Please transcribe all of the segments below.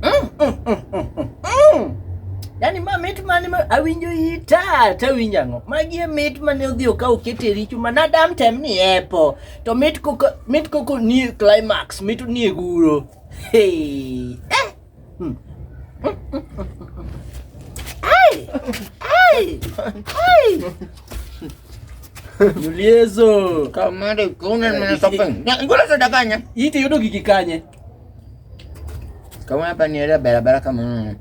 mm, mm, mm, mm, mm. mm. Yaani ma mit mane ma awinjo ita ta winjo ang'o? Magi e mit mane odhi okaw oket e richo ma nadam tem ni epo. To mit koko mit koko ni climax, mit ni e guro. Hey. Eh. Hmm. Ai. Ai. Ai. Juliezo. Kamare kunen mana sopeng. Ya, gue langsung daganya. Itu udah gigi kanya. Kama hapa ni ile barabara kama mm.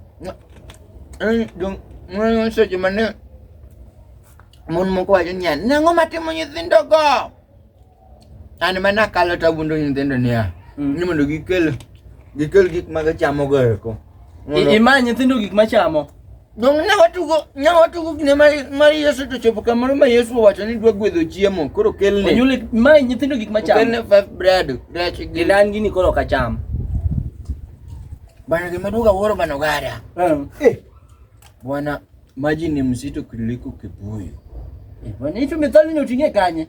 Eh, dong, ngono sa jumane. Mun mo ko ajun yan. Nango mati mo nyithindo go. An mana kalo ta bundo nyithindo niya. Mm. Ni mondo gikel gikel gik ma gichamo go eko. Imany nyithindo gik ma chamo. Donge ne watugo ne watugo kinde mar mar Yesu to chopo kamoro ma Yesu owacho ni dwa gwedho chiemo koro kelne Onyuole mae nyithindo gik ma chamo. kelne five bread rech gi Gidan gini koro ok acham. bana gima duga wuoro bana ogada Eh. bwana maji ni mzito kuliko kibuyu Eh, bwana, hicho methali ni utingie kanye?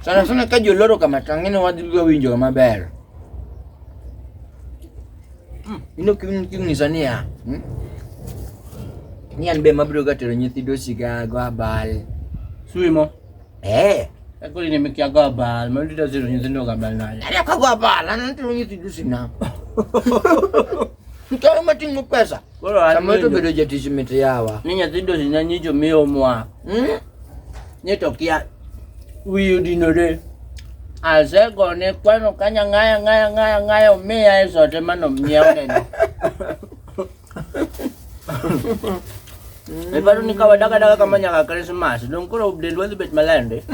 Sana sana ka joloro kama tangine wadhi winjo maber. Mm. Ino kinyisa niya. Hmm? Ni an be mabiro ga tero nyithindo siga go abal. Swimo. Eh. Ekuli nimekia go abal, mabiro ga tero nyithindo go abal nani. Ana ka go abal, ana tero nyithindo sina. Mtawe matingo pesa. Koro an Samuel to nindo. bedo jatich mit yawa. Ni nyathi dosi na nyicho miyo mwa. Mm? Ni to kia wiyo dinore. Asego ne kwano kanya ng'aya ng'aya ng'aya ng'aya omiya e sote mano mnyiewo neno. Iparo ni ka wadaga daga kama nyaka Christmas, dong koro dendwa dhi bet malende.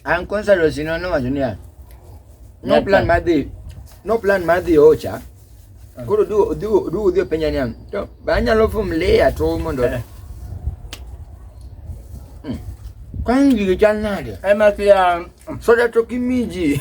An kwanza lo sino no wacho niya. No plan mar dhi. No plan mar dhi ocha. Ah. Koro du du du dhi penja niya. To ba nyalo fum le ato mondo. Eh. Hmm. Kwangi gige chal nade? Eh, Ema kia um, soda to kimiji.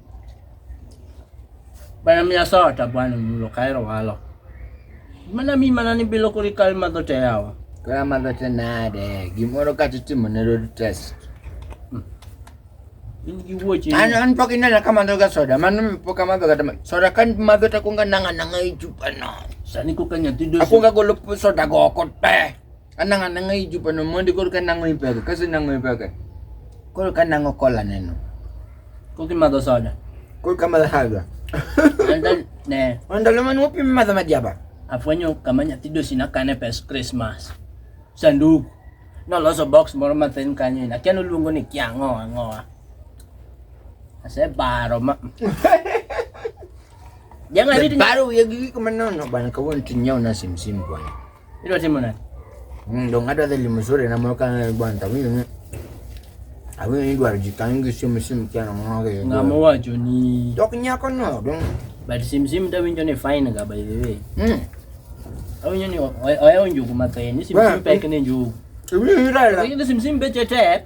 Bana miya soda to bwana mulo kaero walo. Mana mi mana ni bilo kuri kal madho te yawa. Kaya madho te nade. Gimoro kata itimo ne road test. Hmm. In gi wuoche. An an pok inena ka madho ga soda. Mano mi pok amadho ga soda kan madho ta kunga nanga nanga i chupa no. Sani kuka nyathi dosi. Akunga golo soda go oko te. anang anang i jupa no mondi koro ka nango ipeke kasi nango ipeke koro ka nango kola neno koro kimadho soda koro kamadho soda ne ndalo mane wapim madho majaba afwenyo kama nyathi dosi nakane pes krismas sanduku noloso box moro mathin kanyo ina kia noluongo ni kia ang'owa ang'owa asebaro ma jang'ariti baro wiye gi gik manono bana kawuono tinyiew na simsim bwana Ilo timo nani? Mm, ndo ng'ato adhi limo sore na moro kanene bwana tawinjo ni awinjo ni dwaro ji kanyo gi simu simu kia no ng'ono gi Ng'ama wacho ni dok nyako no dong but sim sim tawinjo ni fine ga by the way. mm Awinjo ni oyawo njugu mathin, ni sim Well, sim pek ni njugu. iwinjo ni dala Lakini sim sim beche tek.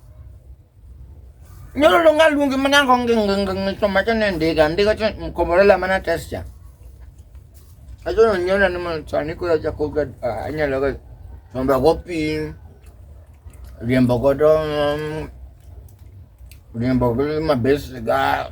Nyoro lo nga lungi mana ko ngi ngi ngi ngi to macha ne ndiga ndiga chen mkomorela mana test ya. Ajo no nyona ni man tsani ko ya ko ga anya lo ga nomba go pi riembo go do riembo go ma bes ga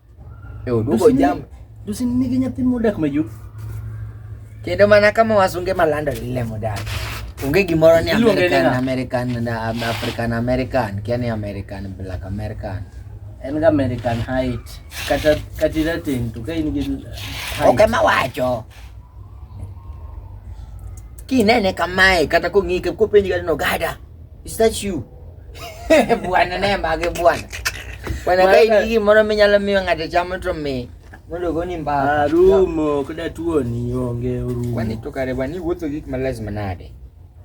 Eh, oduogo Dusin- jam. Dusin nigi nyathi modak majuk. Kendo mana kama wasunge malando lile modak. Onge gimoro ni Iluonge ni American ng'a? American na um, African American, kia ni American Black American. En ga American height. Kata kata irateng' to ka in gi height. Ok ema wacho. Kinene kamae kata kong'ike kopenji kata nogada. Is that you? Bwana naye mage bwana. Bwana kai ndiki mono minyalo miyo ng'ato chamo to mi. Mondo goni mbaka. Arumo kada tuoni onge orumo. Kwani to kare bani wuotho gik ma lazima nade?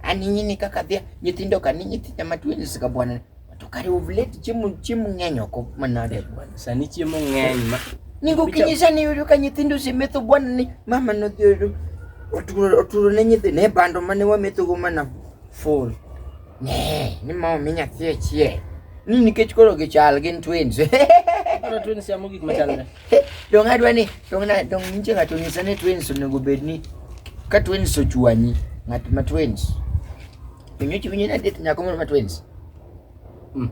Ani nyini kaka dhia nyithindo kani nyithindo ma twins ka bwana. To kare uvlet chiemo chiemo ng'eny oko manade bwana. Sani chiemo ng'eny ma Ningo kinyisa ni yudo ka nyithindo osemetho bwana ni mama nodhi oturo oturo ne nyithindo e bando mane wametho go mana Full. Ne, ni mama menya tie tie. Ni nikech koro gi chal gin twins. Koro twins ya mogik machalre. Dong adwa ni dong na dong nje ngato nyisa ni twins onego bed ni ka twins ochuanyi ngat ma twins. Pinyo chiwinyo na det nyako moro ma twins. Mm.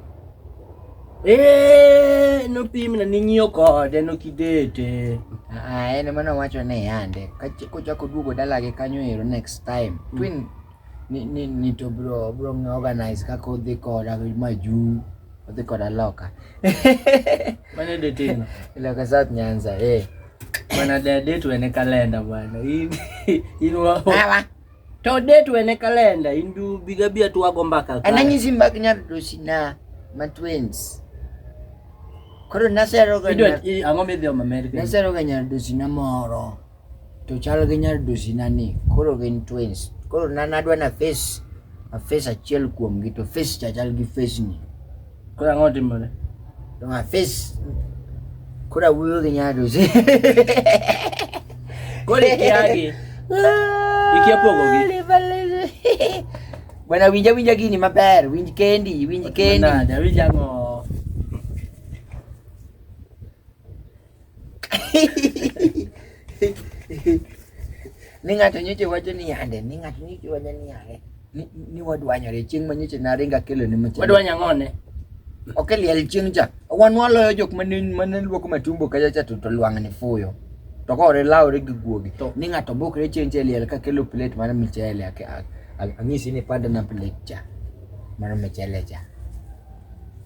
Eh, no pim na ninyo kode no kidete. Ah, ene mana wacho ne yande. Kachako duogo dalagi kanyo ero next time. Mm. Twin ni ni ni to bro bro ng'a organize kaka odhi koda majuu odhi koda loka Mane detino? loka south nyanza eh Bana de date wene kalenda bwana. In in wa Awa. to date wene kalenda in du biga bia tu wago mbaka. ka. ananyisi mbak nyar dosina ma twins koro naseroga Idwa i- ang'o midhi om America? naseroga nyar dosina moro to chal gi nyadusi na ni koro gin twins koro na nadwa na face a face achiel kuom gi to face cha chal gi face ni koro ang'o timore to a face koro awuoyo gi nyadusi koro ikiagi ikia pogo gi bwana winja winja gini maber winj kendi winj kendi winja ng'o ni ng'ato nyocha wacho ni yande ni ng'ato nyocha wacho ni yande ni, ni wadwanyore chieng' ma nyocha naringa kelo ni machelo wadwany ang'one ok eliel chieng' cha wan waloyo jok mane mane luoko matumbo kacha cha to, to lwang' ni fuyo to kore lawre gi guogi To- ni ng'ato bukre chieng' cha eliel ka kelo plate mar michele ake- a- a- ang'isi ni panda na plate cha mar michele cha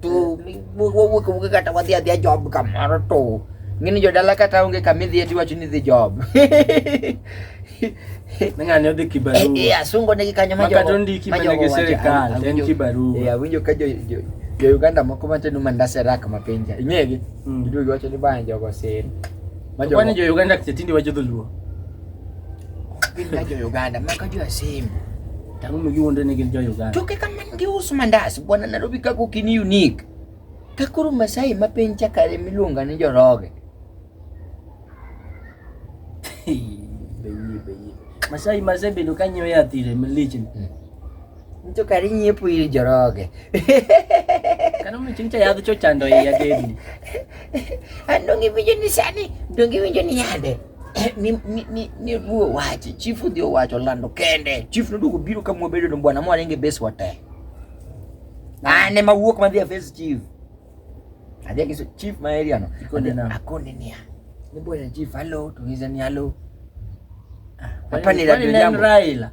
tu wuke kata wadhi adhia job kamoro to ngini jodala kata onge kama idhi eti wacho ni dhi job ng'ani odhi kibarua eh, eh, asungo negi kanyo ma jogo ondiki mana gi sirikal en kibarua eh, awinjo ka jo jo Uganda moko matenu mandase rak mapenja ing'egi mm. iduogi wacho ni bana jogo sir ma jogo kwani jo Uganda kitindi wacho dholuo Gin ka jo Uganda ma ka jo Asembo. Tango mo giwuondre ni gin jo Uganda. To kaka man giuso mandas bwana Nairobi kaka ok in unique. Ka koro Masai ma piny chakare miluonga ni joroge. Masai Masai bedo ka nyiewo yath ire malich. Hmm. Nito kari nyiepo ir joroge. Kano mi chingcha yadh cho chando e yadeni. Ando ngi winjo ni sani, do ngi winjo ni yande. Eh, ni ni ni ni ruo wachi, chifu dio wacho lando kende. Chief no dugo biro kama bedo no bwana mwa renge base wate. Na ne ma wuok ma dhia face chief. Adhi kiso chief ma area no. Akone na. Akone ni. Ni bwana chief hello, tungiza ni hello. Ah, Hapa ni Raila.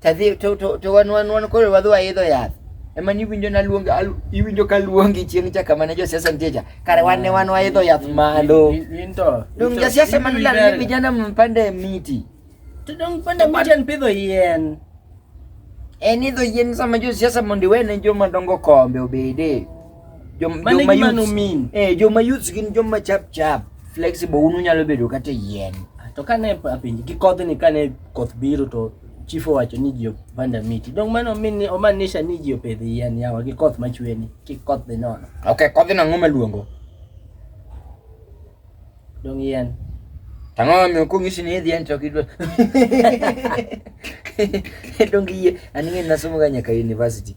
tadhi to to to wan wan wan koro wadhi waidho yath ema ni winjo na luong iwinjo ka luongi chieng cha kama ne josiasa nitie cha kare wan ne wan waidho yath malo into dong josiasa man la ni vijana mpande miti to dong pande miti an pidho yien en idho yien sama josiasa mondo iwene joma dongo kombe obede Jom, Mano e joma gima youths- nomin. eh, joma youths gin joma chap chap flexible un unyalo bedo kata e yien to kane apenji gi kodhni kane koth biro to chief owacho ni ji opanda miti dong mano min- omaanisha ni ji opidh yien yawa gi koth machweni kik koth dhi nono ok kodhno ang'o maluongo dong yien tang'o mamiyo kong'isi ni idhi en to ok idwa donge yie an ing'e nasomoga nyaka university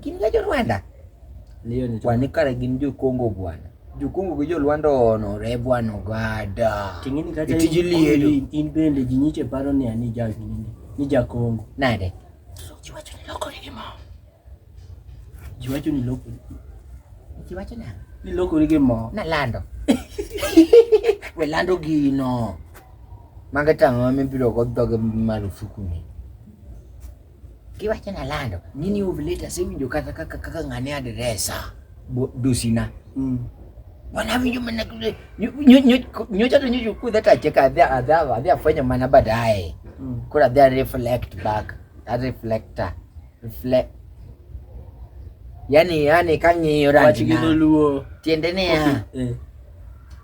Gin ga jo Rwanda. Ndio ni. Kwani kare gin jo Kongo bwana. Jo Kongo gi jo Rwanda ono re bwana ogada. Tingini kata itijili in bende jinyiche paro ni ani ja gini. Ni ja Kongo. Nade? Jiwacho ni loko ni mo. Jiwacho ni loko. Jiwacho na. Ni loko ni mo. Na lando. We lando gino. Mangeta ngome bilo go doge marufuku ni. Kiwacho na lando ni ni ovulate asewinjo kata kaka kaka ng'ane adresa dusina. Mm. Wana winjo mana kule nyocha to nyocha kudha tache ka adha adha adha afanya mana baadaye. Mm. Kura adha reflect back. A reflector. Reflect. Yani yani kang'iyo rangi na. Wachigidoluo. Tiendene ya. Okay. Eh.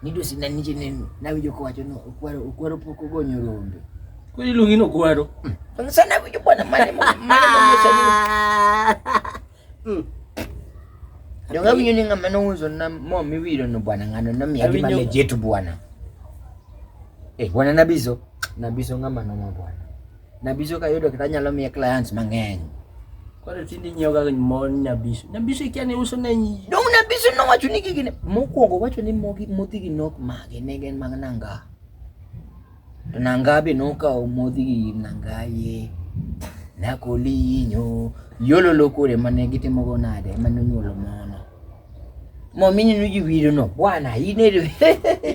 Nidusi na nije na winjo kwacho no okwaro okwaro poko gonyo rombe. Kung ilungin ako, ano? Ang sana ko yung bwana, mali mo, mali mo yung sabi. Yung gawin yun nga manuzo na mo miwiro no bwana nga no nami adi malejetu bwana. Eh bwana nabizo, nabizo nga mano mo bwana. Nabizo kayo do kitanya lo mi clients mangeng. Kore tindi nyo ga mo nabizo. Nabizo ikyane uso na nyi. Dong nabizo no wacho ni gigine. Mo ko go wacho ni mo gi moti gi nok mage negen magnanga. Nangabe noka omodhi gi nangaye nakolinyo yolo lokore mane gitimo go nade mane onyuolo mono momini nuji wiro no bwana ine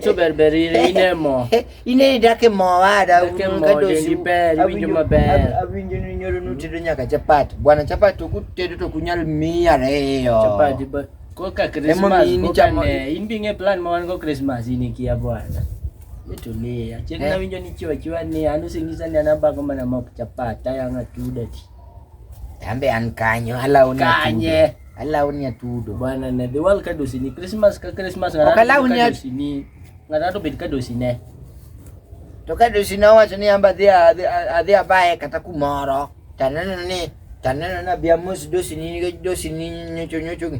to ber ber ine ine mo ine dake mo ada dake mo dendi ber winjo maber awinjo ni nyoro nutedo nyaka chapat bwana chapat to kutedo to kunyal miya reyo chapat koka Christmas koka ne in binge plan ma wan go Christmas in ikia bwana Tulia. Chek eh? na winjo ni chiwa chiwa ni anu singisa ni anabako mana mapuchapata yanga tudati. Tambe an kanyo ala uni kanye. Ala uni atudo. Bwana na the world kado sini Christmas ka Christmas ngara. Okala uni kado sini. Ngara to bit kado sini. To kado sini wa sini amba dia adia bae kata kumoro. Tanana ni tanana na biamus do sini do sini nyocho nyocho.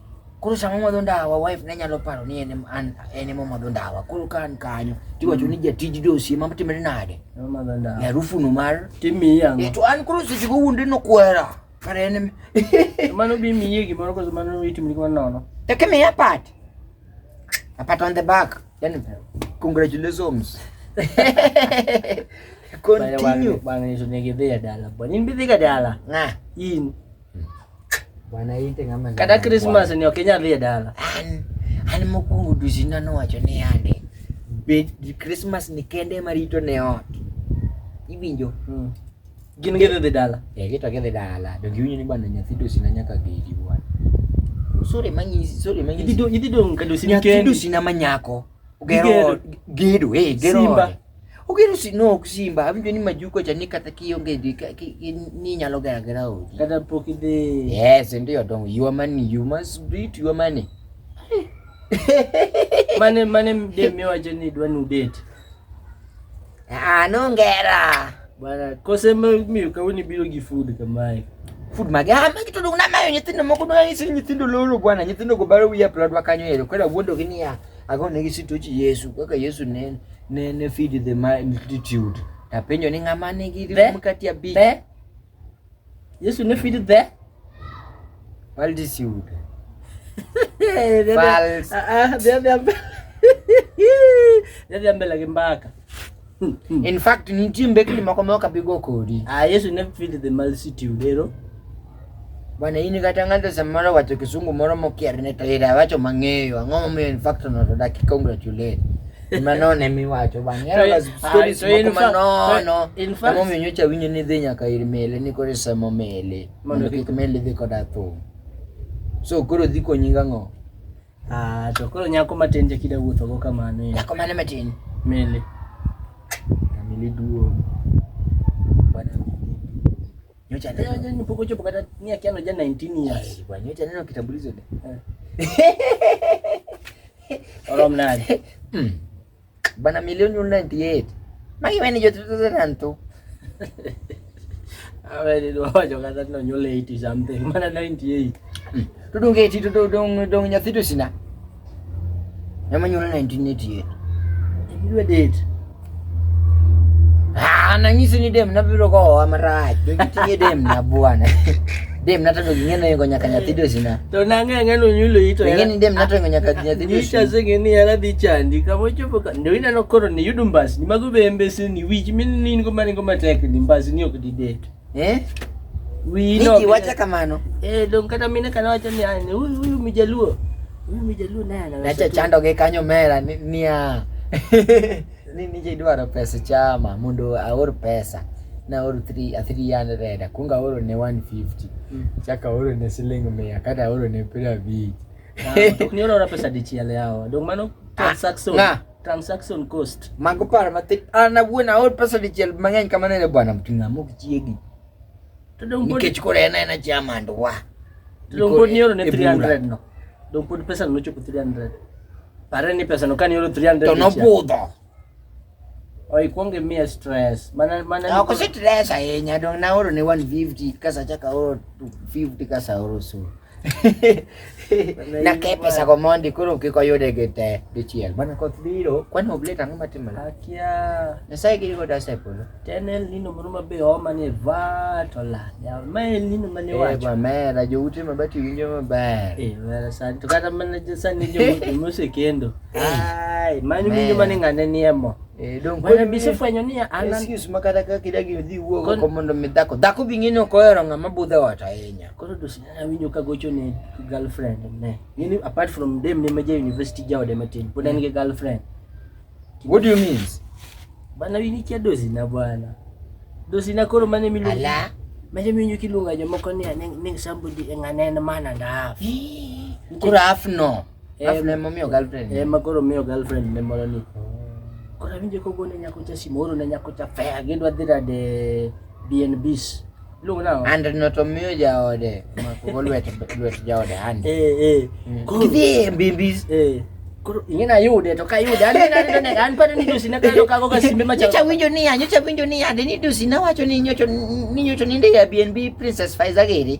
Koro sama omadho ndawa wife ne nyalo paro ni en an en ema omadho ndawa. Koro ka an kanyo tiwacho ni jatij dosi ema timre nade? Omadho ndawa. Harufu no mar timiyi ang'o? Eh, to an koro seche go wuonde no kwera. Kare en mano bi miye gimoro koso mano itimni gimoro nono. E ka miya pat. A pat on the back. Then congratulations. Continue. Bang' nyiso ne gidhi e dala. Bang' in bidhi ga dala. Ng'a? In. Bwana ite ngama. Kada Christmas ni okinya dhi dala. An an mokuongo duzi nano wacho ni ande. Be Christmas ni kende marito ne ot. Iwinjo? Hmm. Gin gidhi dhi dala. Eh, gito gidhi dala. Donge winyo ni bwana nyathi duzi na nyaka gidi bwana. Sore manyi sore manyi. Idhi dong idhi dong kadusi ni kende. Nyathi duzi na manyako. Gero gedo eh gero. Simba. Ogero si no ok simba, awinjo ni majuko cha ni kata kionge di ka- ki- ki- ni nyalo gera gera odi. Kata pok idhi. Yes, ndio dongo. Your money, you must beat your money. Mane mane mde miwacho ni dwa nu date. Ah, no ngera. Bwana kose ma- miyo kawoni biro gi food kamae. Food mage, ah, magi to dong na mayo nyithindo moko dong nyithindo lolo bwana, nyithindo go baro wiya plodwa kanyo ero. Kwera wuondo gi niya, Ako ne gisituch Yesu kaka Yesu ne ne ne feed the multitude. Tapenjo ni ng'ama nigi The- mkati abich. Be Yesu ne feed the Multitude. Eh, the- False. Ah, ah, the other umbrella. The other umbrella gi mbaka. Hmm, hmm. In fact, nitie mbekni moko ma ok abi go kodi. Ah, Yesu ne feed the multitude, ero. Bwana ini kata ng'ato samoro wacho kisungu moro mokier ne to ira wacho mang'eyo. Ang'o momiyo in fact no to daki congratulate. Mano ne miwacho bang'. Ero las ah, stories moko manono. In fact, momiyo nyocha winyo ni dhi nyaka ir mele ni kore samo mele. Mondo kik mele dhi koda thum. So koro dhi konyi ng'o? Ah, to koro nyako matin je kida wuotho go kamano. Nyako mane matin? Mele. Mele duong. Bwana nyocha leo je ni poko chopo kata ni akiano ja 19 years. Eh, bwana nyocha neno kitambulizo de. Eh. Oro mnadi. Mm. Bana milioni 98. Magi mene jo tutu tanto. Awe ni do jo kata no nyole 80 something. Mana 98. Tudung 80 tudung dong dong nyathi to sina. Nyama nyole 1988. Ndwe date. Ah, nangisi ni dem nabiro ko amarach. Dong tiye dem na bwana. Dem nato ndo ging'e no ingo nyaka nyathi dosi na. To nang'e ang'e no nyulo ito. Ing'e ni dem nato ingo nyaka nyathi dosi. Nyita zeng'e ni yara dhi chandi. Kama ochopo ka. Ndo inano koro ni yudu mbasi. Ni mago be mbesi ni wich. Mini ni ingo mani ingo matek ni mbasi ni ok di det. Eh? Wii no. Niki wacha kamano. Eh, dong kata mine kana wacha ni ane. Uyu, uyu mijaluo. Uyu mijaluo nana. Nacha chando ge kanyo mera ni, ni ya. ni nije idwaro pesa chama mondo aor pesa naoro 300 akwongo aoro ne 150 mm. chako aoro ne siling mia kata aoro ne piero abich tokni orora pesa dichiel yawa dong mano ah, transaction na. transaction cost mago paro mathin an awuon aor pesa dichiel mang'eny kamano ne bwana mting'a mok chiegi nikech koro en en achiya mand wa to dong pod nioro ne 300 no dong pod pesa no nochopo 300 pare ni pesa no ka nioro 300 to nobudho oikwongo imiye stress mana mana ok si stress ahinya dong naoro ne 150 kasacha kaoro 250 kasaoro so Nake pesa ko mondi koro kik oyude gi te dichiel. Bana koth biro, kwani oblet ang'o matimore? Akia. Nyasaye giri go dasa e polo. Ten el nino moro ma be oma ni va to la. Ya ma el nino ma ne wacho. Eh ba mera jo ute ma bati winjo maber. Eh mera san to kata mana jo san ni jo ute mose kendo. Ai, mani winjo mane ng'ane ni emo. Eh, dong kwe bise fwenyo ni anan excuse makata kaka idagi odhi wuogo ko mondo mi dhako dhako bing'ino kohero ng'ama budhe ot ahinya koro to awinjo ka gocho ne girlfriend ne in apart from dem ne meja university jaode matin pod en gi girlfriend what do you mean bana wini kia dozi na bwana dozi na koro mane milu ala mane milu kilunga jomoko ni ne somebody ngane na mana na half koro half no Alafu ne momiyo girlfriend. Eh, ma koro miyo girlfriend ne moro ni. Koro awinjo ka ogone nyako cha simu, oro ne nyako cha fea, gidwa dhi rade BNBs. Luongo nang'o? And no to miyo jaode, mako lwet lwet jaode hand. Eh, eh. Mm. Koro dhi e BNBs. Eh. Koro ing'e na yude to ka yude an na yude an pare ni dusi na kalo kago ka simbe macha. Nyocha winjo ni ya, nyocha winjo ni ya, de ni dusi na wacho ni nyocho ni nyocho ni ndio ya BNB Princess Faiza gere.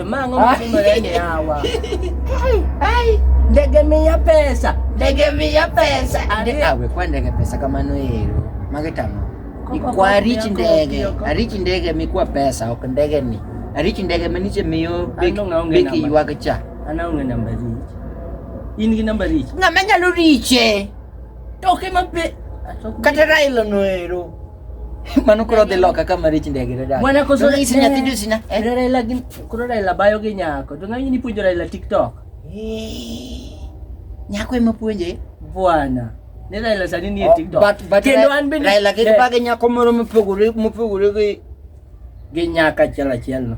Mango msimuleni hawa. Ai, ai. Ndege mia pesa. Ndege mia pesa. Ari awe kwa ndege pesa kama no hero. Magetano. Ikwa rich ndege. Rich ndege mikwa pesa ok ndege ni. Rich ndege maniche miyo big big yuaga cha. Ana unge namba rich. In gi namba rich. Ng'ama nyalo riche. Toke mape. Kata Raila no hero. Mano koro dhi loka ka marich ndege to dada. Mwana koso Nonyiso nyathi juzi na. Eh? Koro Raila gin koro Raila bayo gi nyako. To ng'ani ni puonjo Raila TikTok. Eh. Nyako ema puonje. Bwana. Ne Raila sani ni e oh, TikTok. But but kendo an bende Raila kendo eh. bage nyako moro mopogore mopogore gi gi nyaka achiel achiel no.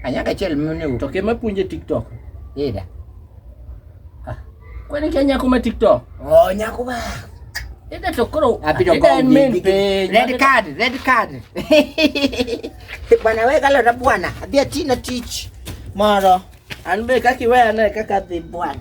Anyaka achiel mene. To kema puonje TikTok. Ida. Kwani kia nyako ma TikTok? Oh, nyako ma. Ida to koro abido go main page. Red card, red card. Bwana wewe kala na bwana, abia tina teach. Moro. Anbe kaki wewe na kaka the bwana.